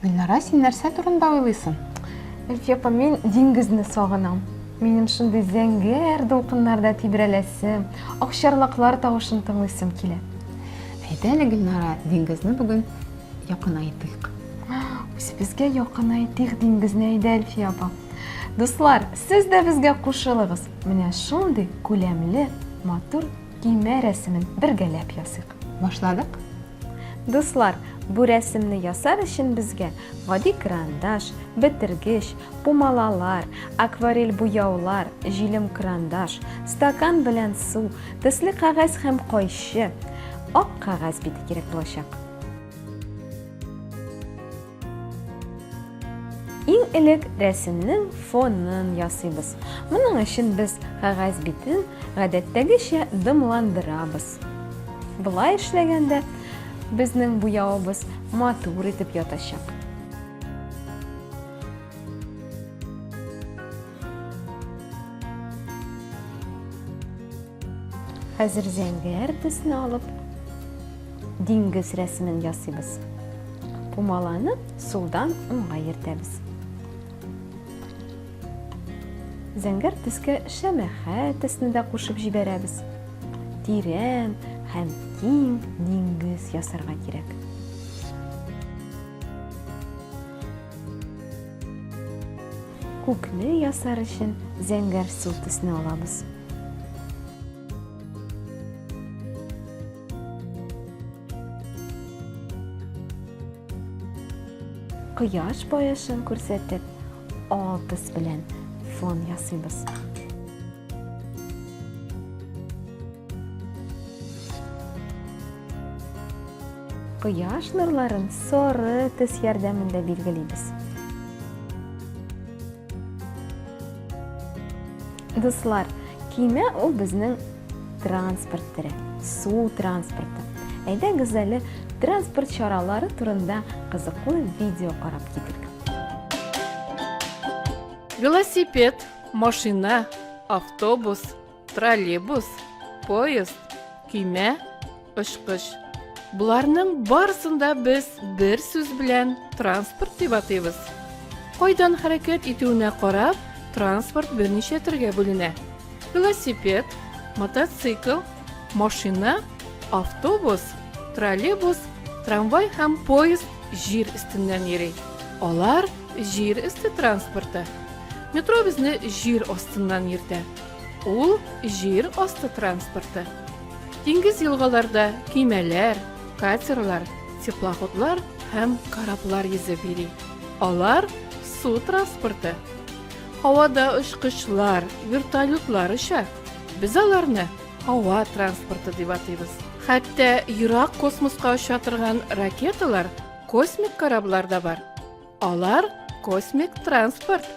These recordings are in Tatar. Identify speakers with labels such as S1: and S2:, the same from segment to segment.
S1: Гөлнара, син нәрсә турында уйлыйсың? Әлфияпа,
S2: мин диңгезне сагынам. Минем шундый зәңгәр дулкыннарда тибрәләсем, акчарлаклар тавышын тыңлыйсым килә. Әйдә әле,
S1: Гөлнара, диңгезне бүген якынайтыйк.
S2: Үзебезгә якынайтыйк диңгезне әйдә, Әлфия апа. Дуслар, сез дә безгә кушылыгыз. Менә шундый күләмле, матур көймә рәсемен бергәләп ясыйк. Башладык.
S1: Дуслар,
S2: бу рәсемне ясар өчен безгә гади карандаш, бетергеч, пумалалар, акварель буяулар, җилем карандаш, стакан белән су, төсле кәгазь һәм кайчы, ак кәгазь бите кирәк булачак. Иң элек рәсемнең фонын ясыйбыз. Моның өчен без кәгазь битен гадәттәгечә дымландырабыз. Болай эшләгәндә безнең буявыбыз матур итеп ятачак. Хәзер зәңгәр төсне алып, диңгез рәсемен ясыйбыз. Пумаланы сулдан уңга йөртәбез. Зәңгәр төскә шәмәхә төсне дә кушып җибәрәбез. Тирән һәм киң диңгез ясарга кирәк. Күкне ясар өчен зәңгәр су төсне алабыз. Кояш баешын күрсәтеп, алтыс белән фон ясыйбыз. Кояш нурларын соры төс ярдәмендә билгелибез. Дуслар, кимә ул безнең транспорт тере, су транспорты. Әйдәгез әле транспорт чаралары турында кызыклы видео карап китик.
S3: Велосипед, машина, автобус, троллейбус, поезд, көймә, очкыч. Боларның барысында без бер сүз белән транспорт дип атыйбыз. Кайдан хәрәкәт итүенә карап, транспорт берничә төргә бүленә. Велосипед, мотоцикл, машина, автобус, троллейбус, трамвай һәм поезд җир өстеннән йөри. Алар җир өсте транспорты. Метро безне җир астыннан йөртә. Ул җир асты транспорты. Диңгез елгаларда кимәләр, катерлар, теплоходлар һәм кораблар йөзеп йөри. Алар су транспорты. Һавада очкычлар, вертолетлар оча. Без аларны һава транспорты дип атыйбыз. Хәтта ерак космоска оча торган ракеталар, космик кораблар да бар. Алар космик транспорт.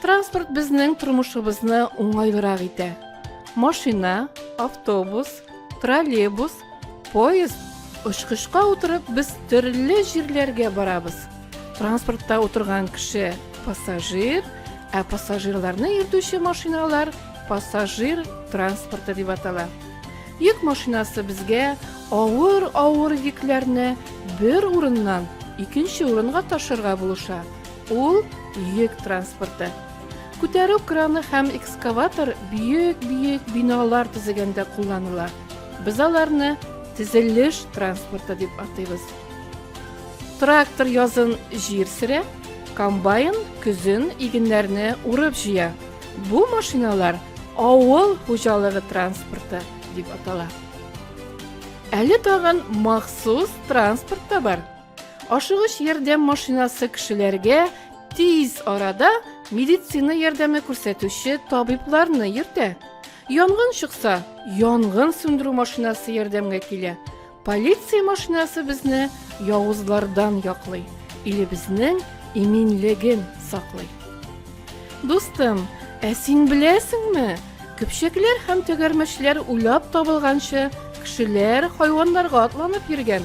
S3: Транспорт безнең тормышыбызны уңайлырак итә. Машина, автобус, троллейбус, поезд, очкычка утырып без төрле җирләргә барабыз. Транспортта утырган кеше пассажир, ә пассажирларны йөртүче машиналар пассажир транспорты дип атала. Йөк машинасы безгә авыр-авыр йөкләрне бер урыннан икенче урынга ташырга булыша. Ул йөк транспорты. Күтәрү краны һәм экскаватор бөек-бөек биналар төзегәндә кулланыла. Без аларны тезелеш транспорты дип атыйбыз. Трактор язын җир сөрә, комбайн көзен игеннәрне урып җыя. Бу машиналар авыл хуҗалыгы транспорты дип атала. Әле тагын махсус транспорт та бар. Ашыгыч ярдәм машинасы кешеләргә тиз арада медицина ярдәме күрсәтүче табибларны йөртә. Янгын чыкса, янгын сүндерү машинасы ярдәмгә килә. Полиция машинасы безне явызлардан яклый, илебезнең иминлеген саклый. Дустым, ә син беләсеңме? Көпчәкләр һәм тәгәрмәчләр уйлап табылганчы, кешеләр хайваннарга атланып йөргән.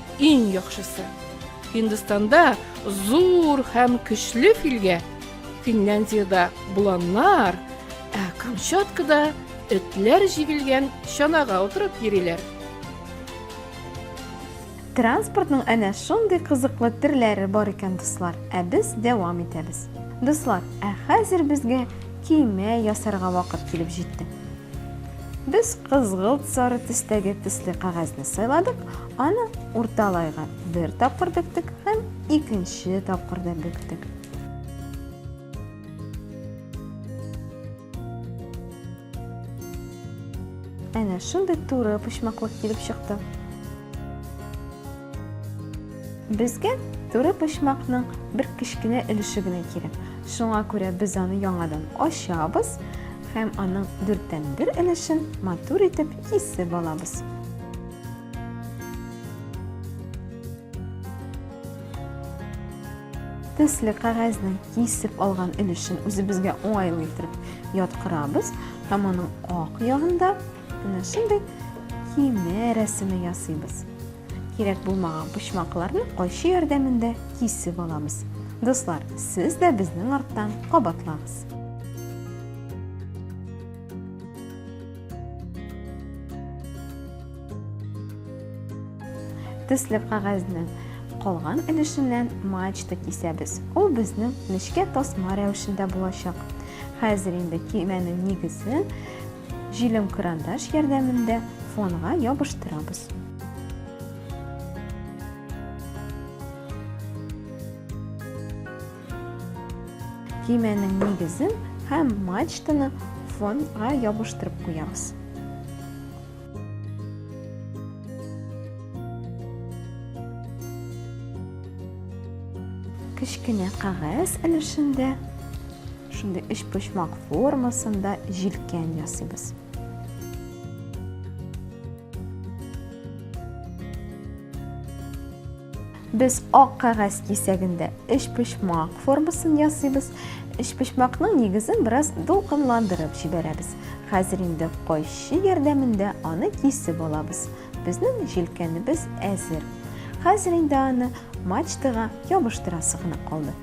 S3: Иң яхшысы. Һиндстанда зур һәм көчле филгә, Финляндиядә буланнар, ә Камчаткада этләр җигелгән чанага утырып йөриләр.
S2: Транспортның әнә шундый кызыклы төрләре бар икән, дуслар. Ә без дәвам итәбез. Дуслар, ә хәзер безгә көймә ясарга вакыт килеп җитте. Без кызгылт сары төстәге төсле кәгазьне сайладык, аны урталайга бер тапкыр бөктек һәм икенче тапкыр да бөктек. Әнә шундый туры почмаклык килеп чыкты. Безгә туры почмакның бер кечкенә өлеше генә кирәк. Шуңа күрә без аны яңадан ачабыз һәм аның дүрттән бер өлешен матур итеп кисеп алабыз. төсле кәгазьнең кисеп алган өлешен үзебезгә уңайлы итеп яткырабыз һәм аның ак ягында Менә шундый киемнәр рәсеме ясыйбыз. Кирәк булмаган почмакларны кайчы ярдәмендә кисеп аламыз. Дуслар, сез дә безнең арттан кабатлагыз. төсле кәгазьнең калган өлешеннән мачта кисәбез. Ул безнең нечкә тасма рәвешендә булачак. Хәзер инде кимәнең нигезен Җилем карандаш ярдәмендә фонга ябыштырабыз. Кимәнең нигезен һәм мачтаны фонга ябыштырып куябыз. Кечкенә кагәз өлешендә Шундый өчпочмак формасында җилкән ясыйбыз. Без ак кәгазь кисәгендә өчпочмак формасын ясыйбыз. Өчпочмакның нигезен бераз дулкынландырып җибәрәбез. Хәзер инде кайчы ярдәмендә аны кисеп алабыз. Безнең җилкәнебез әзер. Хәзер инде аны мачтага ябыштырасы гына калды.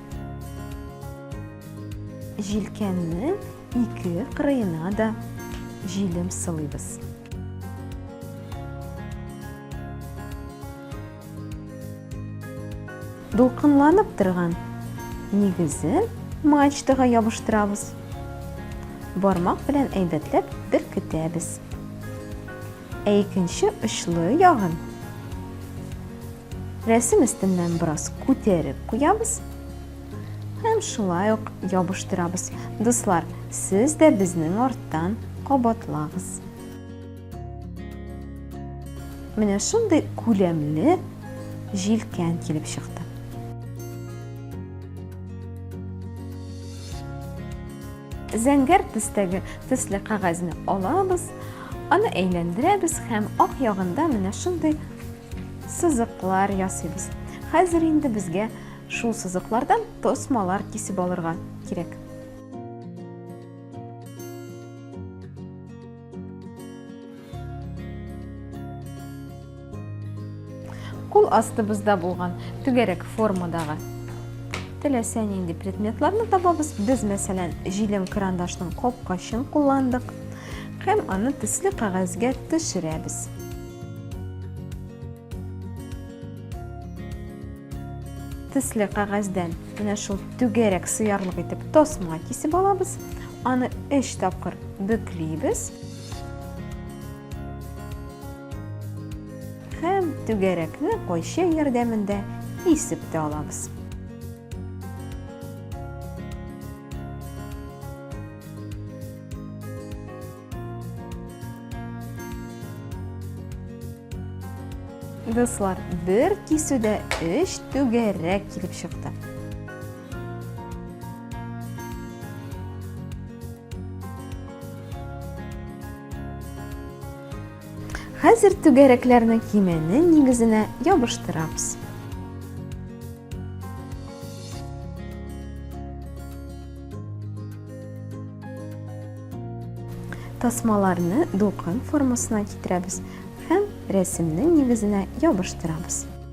S2: Җилкәннең ике кырыена да җилем сылыйбыз. Дулкынланып торган нигезен мачтага ябыштырабыз. Бармак белән әйбәтләп беркетәбез. Ә икенче очлы ягын рәсем өстеннән бераз күтәреп куябыз һәм шулай ук ябыштырабыз. Дуслар, сез дә безнең арттан кабатлагыз. Менә шундый күләмле җилкән килеп чыкты. Зәңгәр төстәге төсле кәгазьне алабыз Аны әйләндерәбез һәм ак ягында менә шундый сызыклар ясыйбыз. Хәзер инде безгә шул сызыклардан тосмалар кисеп алырга кирәк. Кул астыбызда булган түгәрәк формадагы теләсә нинди предметларны табабыз. Без, мәсәлән, җилем карандашның капкачын кулландык һәм аны төсле кәгазьгә төшерәбез. Төсле кәгазьдән менә шул түгәрәк сыярлык итеп тасма кисеп алабыз. Аны 3 тапкыр бөклибез. Һәм түгәрәкне кайчы ярдәмендә кисеп тә алабыз. Дуслар, бер кисүдә өч түгәрәк килеп чыкты. Хәзер түгәрәкләрне кимәнең нигезенә ябыштырабыз. Тасмаларны дулкын формасына китерәбез һәм рәсемнең нигезенә ябыштырабыз.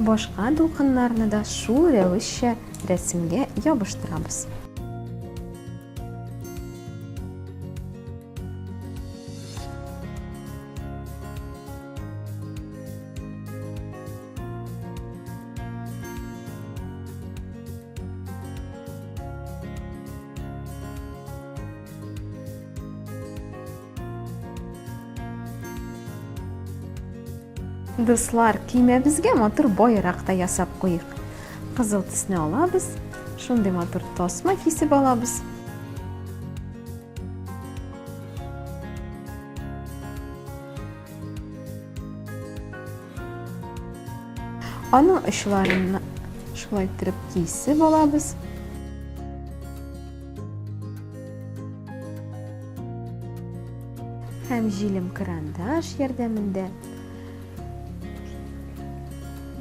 S2: Башка дулкыннарны да шул рәвешчә рәсемгә ябыштырабыз. Дуслар, киемебезгә матур байрак та ясап куйыйк. Кызыл төсне алабыз, шундый матур тасма кисеп алабыз. Аның очларына шулай иттереп кисеп алабыз. Һәм җилем карандаш ярдәмендә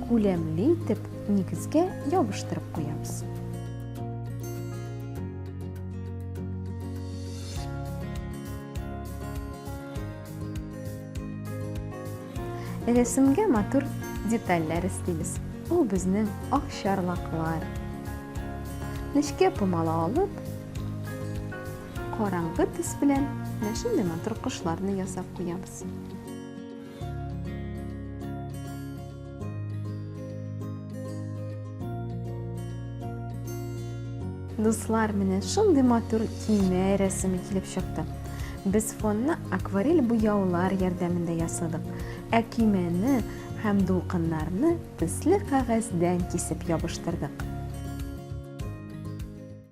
S2: күләмле итеп нигезгә ябыштырып куябыз. Рәсемгә матур детальләр эслибез. Ул безнең ак чарлаклар. Нечкә помала алып, караңгы төс белән менә шундый матур кошларны ясап куябыз. Дуслар, менә шундый матур көймә рәсеме килеп чыкты. Без фонны акварель буяулар ярдәмендә ясадык. Ә көймәне һәм дулкыннарны төсле кәгазьдән кисеп ябыштырдык.